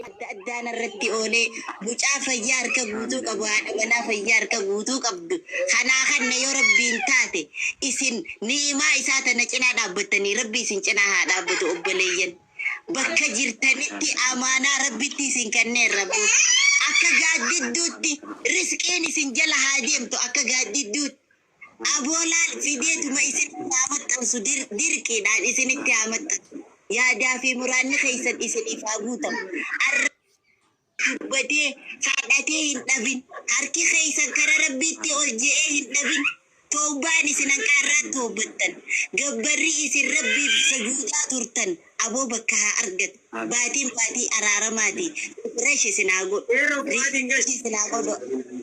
adda addaan irratti oolee mucaa fayyaa harka guutuu qabu haadha manaa fayyaa harka guutuu qabdu kanaa kanna yoo rabbiin taate isin ni'imaa isaa tana cinaa dhaabbattanii rabbi isin cinaa haa dhaabbatu obboleeyyan. bakka jirtanitti amaanaa Rabbitti isin kenneerra. Akka gaaddidduutti risqiin isin jala haa deemtu akka gaaddidduutti. Aboolaal fideetuma isinitti haa maxxansu dir- dirqiidhaan isinitti haa maxxansu. Yaadaa fi muraanni keessan isiniif haa guutamu. Arra Kan dhugatee, kadhatee hin dhabin. Harki keessan kara Rabbiitti ol je'ee hin dhabin. Tawbaan isin hanqa arraatti tawbattan. Gabbarri isin Rabbiif sujuudaa turtan aboo bakka haa argatu. Baatiin baatii araaramaati. Refresh isin haa godhu. Refresh isin haa godhu.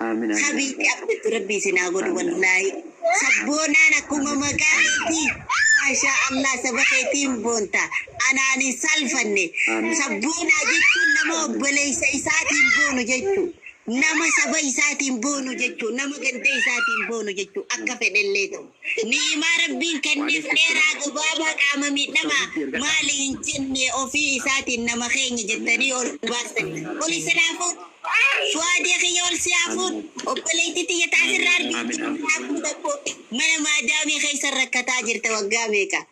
Amiin amiin. Habiibti abdatti rabbi isin haa godhu Amiin, amiin. wallaahi. Sabboonaan akkuma Amiin. maqaa keetii maashaa Allah saba keetiin boonta. Anaan hin saalfanne. Amiin. Sabboonaa jechuun nama Amiin. obboleessa isaatiin boonu jechuu. Nama saba isaatiin boonu jechuu. Nama ganda isaatiin boonu jechuu. Akka fedhellee ta'u. Ni'imaa Rabbiin kenneef dheeraa gabaabaa qaama miidhamaa maali hin jenne ofii isaatiin nama keenya jettanii ol baastan. Ol isin haa fuudhu. Su'aadee kiyya ol si haa fuudhu. Obboleettii tiyya ta asirra argitu jiru haa fuudha koo. Mana maadaamii keessan rakkataa jirta waggaa meeqa.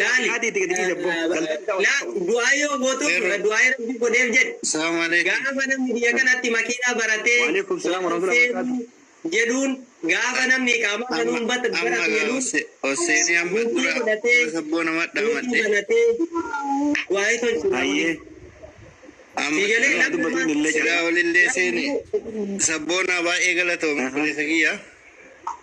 Laali du'aa yoo gootu du'aa rabbi godheef jedhi gaafa namni biyya kanatti makiinaa baratee Husseeni jedhuun gaafa namni iqaamaa banuun baratu jedhuun bultii godhatee suuqii banatee waa'ee tolchu namni siigalee lakkufaan sigaa olillee seeni sabboonaa baay'ee galatoomi obboleessa kiyya.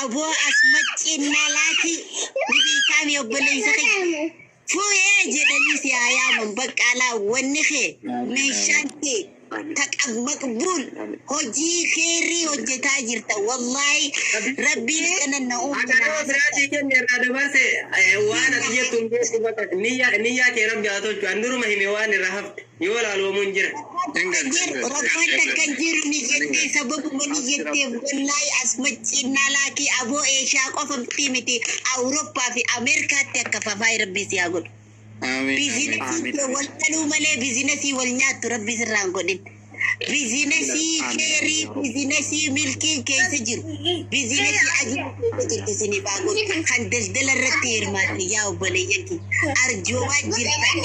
Aboo as macciin naa laaki ni beekaami obboleessa kiyya. Fuuyee jedhanii si haa yaaman baqqaalaa wanni kee meeshaan kee taqab maqbuul hojii keerrii hojjetaa jirta wallaahi rabbiin akkana na uumu Akana naa birati hojjeta. kenne irraa dabarse eh, waan ati jettu hin beeku bakka niyyaa niyyaa kee rabbi haa tolchu an duruma hime waan irraa hafte. Yoo laaloomuun jira. Kadir rokaan takka hin jiru ni jettee sababuma ni jetteef wallaahi as macciinnaa laakii aboo eeshiyaa qofa miti miti awurooppaa fi ameerikaatti akka fafaay rabbii si haa godhu Amiin. biizinasiin kee wal dhaluu malee biizinasii wal nyaattu rabbii sirraa hin godhin biizinasii keerii biizinasii milkiin keessa jiru biizinasii ajii Itti sini baagoon kan daldala irratti hirmaatan yaa obboleeyyan kiyya arjoomaa jirtan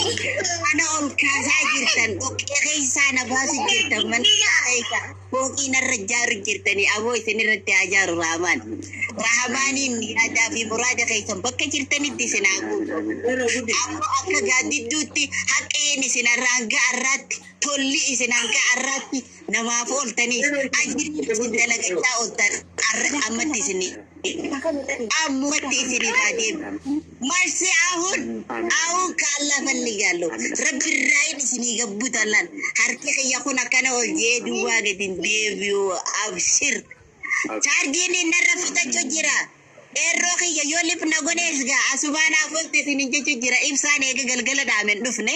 ana ol kaasaa jirtan dhoqqee keessaa na baasu jirtan manaa keessa fooqii narra jaaru jirtanii aboo isin irratti haa jaaru raamaan raamaaniin yaadaa fi muraada keessan bakka jirtanitti isin haa guutu ammoo akka gaaddidduutti haqqeen isin hanga arraatti tolli isin hanga arraatti namaaf ooltaniif ajji isin dalagachaa ooltan arra ammatti isin ammatti isin irraa deemu marsi ahun ahun kaallaa falli gaallo rabbi irraayin isinii gabbu tallan harki kiyya kun akkana ol jee duwwaa gadin deebi'u abshir chaarjiin innarra fixachu jira eerroo kiyya yoo lipna gonees gaa asubaan afolte isinin jechu jira ibsaan eega galgala dhaamen dhufne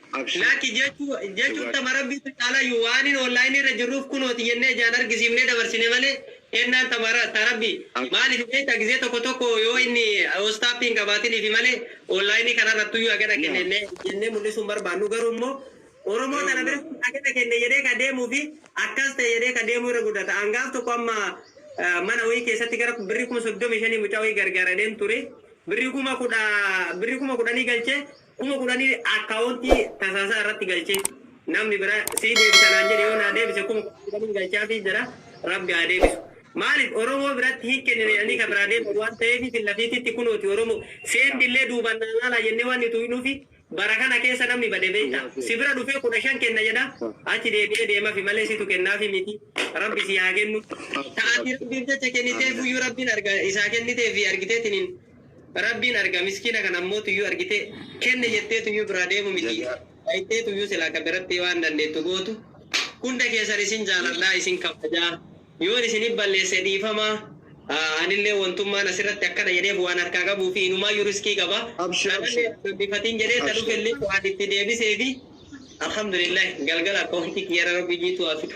Abshir Lakki jechuu jechuu dhugaa itti ama rabbiitu caalaayyu waanin online irra jirruuf kunooti jennee ijaan argisiifnee dabarsine malee kennaan tamara ta rabbi Abshir maalifi beekta gizee tokko tokko yoo Abshir inni whatsapp hin qabaatiniifi malee online kanarrattuyyuu hagana kenne yaa jennee jennee mul'isuu hin barbaannu garuu immoo oromoo yaa tana Allah biratti hagana kenne jedhee ka deemuufi akkas ta'e jedhee ka deemuu irra guddata an gaaf tokko amma eh, mana wayii keessatti gara birrii kuma soddomii shanii mucaa wayii gargaaradheen ture birrii kuma kudha birrii kuma kudhanii galchee Kuma kudhanii akkaawontii tasaasaa irratti galchee namni biraa sii deebisa naan jedhe yoo naa deebise kuma kudhaniin galchaafii jira rabbi haa deebisu maalif oromoo biratti hin kennine jedhanii ka biraa deeman waan taheefi filla fiititti kunooti oromoo seendi illee duubaan naa laalaa jennee waan nuti uynuufi bara kana keessa namni bade beekta si bira dhufee kudha shan kenna jedha achi deebi'ee deemafi malee situ kennaafi miti rabbi sii haa kennu ta ati rabbiif jecha kenniteefuyyuu rabbiin arga isaa kenniteefi argiteetiniin Rabbiin arga miskiina kana ammootuyyuu argitee kenne jetteetuyyuu biraa deemu miti dhayxeetuyyuu silaa ka biratti waan dandeettu gootu hunda keessan isin jaaladha isin kabaja yoon isinif balleesse dhiifama anillee wontummaan asirratti akkana jedheef waan harkaa qabuufi inumaayyuu riskii qaba Abshir, kanallee abshir. rabbifatiin jedhee ta Abshir. dhufellee waan itti deebiseefi alhamdulillah galgala akkawanti kiyyara rabbi jiitu haa fidu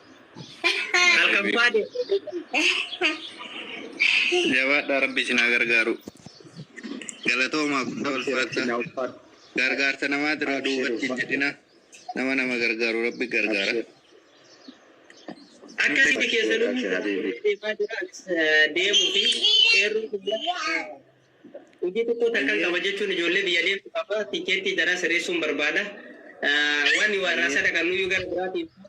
Kalkabbaade. Jabaadhaa rabbi isin haa gargaaru. Galatoomaa guddaa ulfaadha. Gargaarsa namaa dura duubatti hin jedhina. Nama nama gargaaru rabbi gargaara. Akkasitti keessanuu deemaa jira. Deemuu fi eeruu Hojii tokkoo takkan qaba jechuun ijoollee biyya deemtu qaba, tikkeettii jaraa sireessuun barbaada. Waan waarraasa dhaqannuyyuu gara biraatii miti.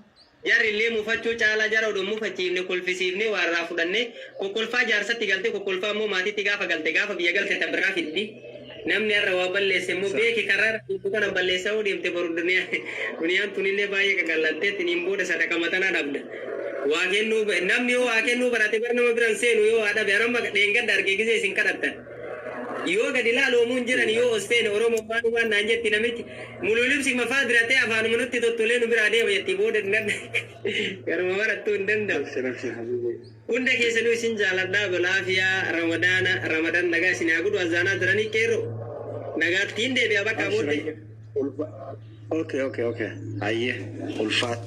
Jarri illee mufachuu caalaa jara odoo hin mufachiifne kolfisiifnee waarraa fudhannee kokkolfaa jaarsatti galtee kokkolfaa immoo maatiitti gaafa galte gaafa biyya galte ta biraa fiddi. Namni har'a waa balleesse immoo beeki karra irra jirtu kanan balleessa yoo deemte boru duniyaan tunillee baay'ee qaqallantee tiniin booda sadaqa matanaa dhabda. Waa kennuu ba Namni yoo waa kennuu barate bar nama bira hin seenu yoo waa dhabe an amma dheengadda arge gizee isin kadhattan yoo gadi laalu omuu hin jedhani yoo os teene oromo waan waan naan jetti namichi muluu libsi mafaa bira tee afaanuma nutti tottolee nu biraa deema jetti booda nan garuma marattuu hin danda'u Abshir abshir habibi. hunda keessanuu isin jaaladha balaafiyaa ramadaana ramadan nagaa isin haa godhu azaanaa jiranii qeerroo nagaattiin deebi'a bakka Abshir booddee abshir. Ulfa. Okay okay okay hayyee ulfaadhu.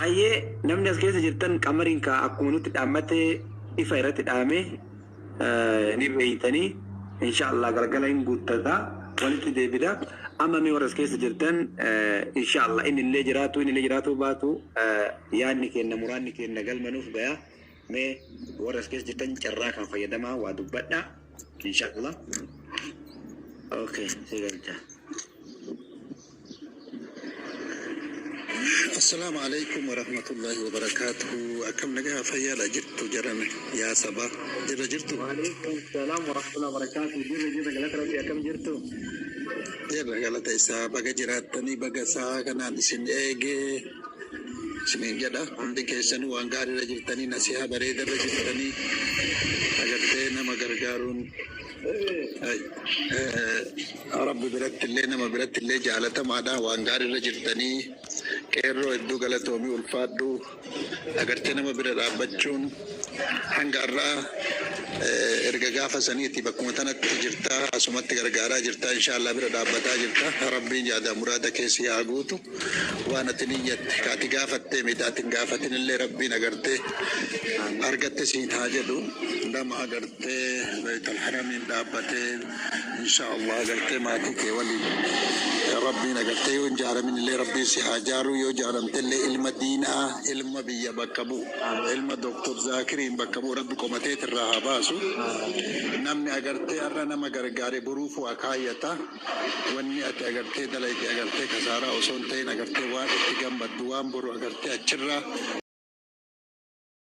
Hayyee namni as keessa jirtan qamariin kaa akkuma nutti dhaammate ifa irratti dhaame eh, ni beeytanii inshaallah galgala hin guuttata walitti deebida amma mee warra as keessa jirtan eh, inshaallah inni illee jiraatu inni illee jiraatu baatu eh, yaadni keenna muraanni keenna galma nuuf gayaa. Mee warri as keessa jirtan carraa kan fayyadamaa waa dubbadha. Inshaallah. Okay, si galcha. Assalaamu alaikum warahmatullahi wabarakaatuhu. Akkam nagaa fayyaadha jirtu jedhame yaa saba jirra jirtu. Waalaikum salaam warahmatullahi wabarakaatu. Jirra jirra galata rabbi akkam jirtu? Jirra galata isaa baga jiraattanii baga isaa kanaan isin eegee. isiniin jedha hundi keessanuu waan gaariirra jirtanii nasihaa bareedarra jirtanii agartee nama gargaaruun rabbi birattillee nama birattillee jaalatamaadha waan gaariirra jirtanii qeerroo hedduu galatoomii ulfaadhu agartee nama bira dhaabbachuun Hanga har'aa erga gaafa saniiti bakkuma tanatti jirta asumatti gargaaraa jirta inshaa Allah bira dhaabbataa jirta rabbiin yaadaaf muraada kee sii haa guutu waan ati niyyatte ka ati gaafattee miti ati hin gaafatinillee rabbiin agartee argatte siin haa jedhu nama agartee beeytal haramiin dhaabbatee Inshaa Allah gartee maatii kee waliin Rabbiin agartee yoo hin jaaramin illee Rabbiin si haa jaaruu yoo jaaramte illee ilma diinaa ilma biyya bakka bu'u ilma Dr. Zaakiriin bakka bu'u Rabbi qomateet irraa haa baasu namni agartee har'a nama gargaare boruuf waa kaayyata wanni ati agartee dalayte agartee kasaaraa osoo hin ta'in agartee waan itti gammaddu waan boru agartee achirraa